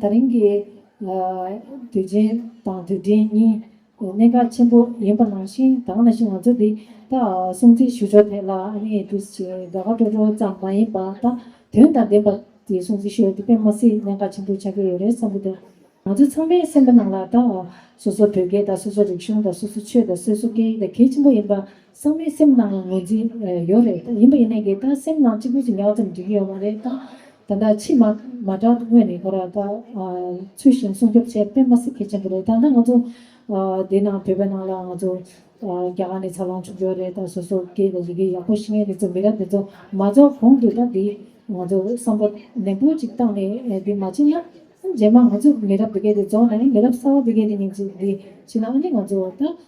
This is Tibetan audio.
ད་རིང་གི་དུས་ཆེན་དང་དུས་དྲན་གཉིས་གནད་འགག་ཆེན་པོ་ཡིན་པ་ནང་བཞིན་གང་ལ་ཞིག་ང་ཚོ་འདི་ལྟ་སྲུང་བརྩི་ཞུ་ཕྱོགས་ཐད་ལ་ཨ་ནེ་ཨེ་ཀྲུས་ཀྱི་དགའ་དགའ་སྤྲོ་སྤྲོ་ཙམ་མ་ཡིན་པ་ད་དོན་དང་ལྡན་པ་དེ་སྲུང་བརྩི་ཞུ་བ་དེ་དཔེ་མ་སྲིད་གནད་འགག་ཆེན་པོ་ཆགས་ཀྱི་ཡོད་རེད་བསམ་གྱི་འདུག་ང་ཚོ་ཚང་མའི་སེམས་པ་ནང་ལ་ད་སོ་སོ་བོད་སྐད་དང་སོ་སོ་རིག་གཞུང་དང་སོ་སོ་ཆོས་དང་སོས་སོ་སྐད་ཡིག་དང་གལ་ཆེན་པོ་ཡིན་པ། ཚང་མའི་སེམས་ནང་ངོས་འཛིན་ཡོད་རེད་ད་ཡིན་པ་ཡིན་ནའི་གི་ད་སེམས་ནང་གཅིག་པུ་ཅིག་ཉག་ཙམ་སྒྲིག་གི་ཡོད་མ་རེད་ད། ད་ལྟ་ཕྱི་མ་མ་དྲག་དངོས་ནས་ཁོ་རང་ད་ཚུལ་བཞིན་སྲུང་སྐྱོབ་བྱེད་པས་མ་སྲིད་གལ་ཆེན་པོ་རེད་ད་ལྟ་ང་ཚོ་འདི་ནང་བོད་པའི་ནང་ལ་ང་ཚོ་རྒྱ་གར་ནས་ཚར་ལོངས་བྱུང་ཡོད་རེད་ད་སོ་སོ་སྐད་ཡི་གེ་ཡག་པོ་ཤེས་མཁན་དེ་ཚོ་མི་རབས་དེ་ཚོ་མ་རྫོགས་གོང་དུ་ད་འདི་ང་ཚོ་བསམ་བོ་ནན་པོ་ཅིག་བཏང་ནས་འདི་མ་བྱེད་ན་རྗེས་མ་ང་ཚོ་མི་རབས་འདི་གའི་དེ་རྫོགས་ནའི་མི་རབས་གསར་བ་འདི་གའི་དེ་ཉིན་ཅིག་འདི་བྱེད་ན་ཨ་ནི་ང་ཚོ་ད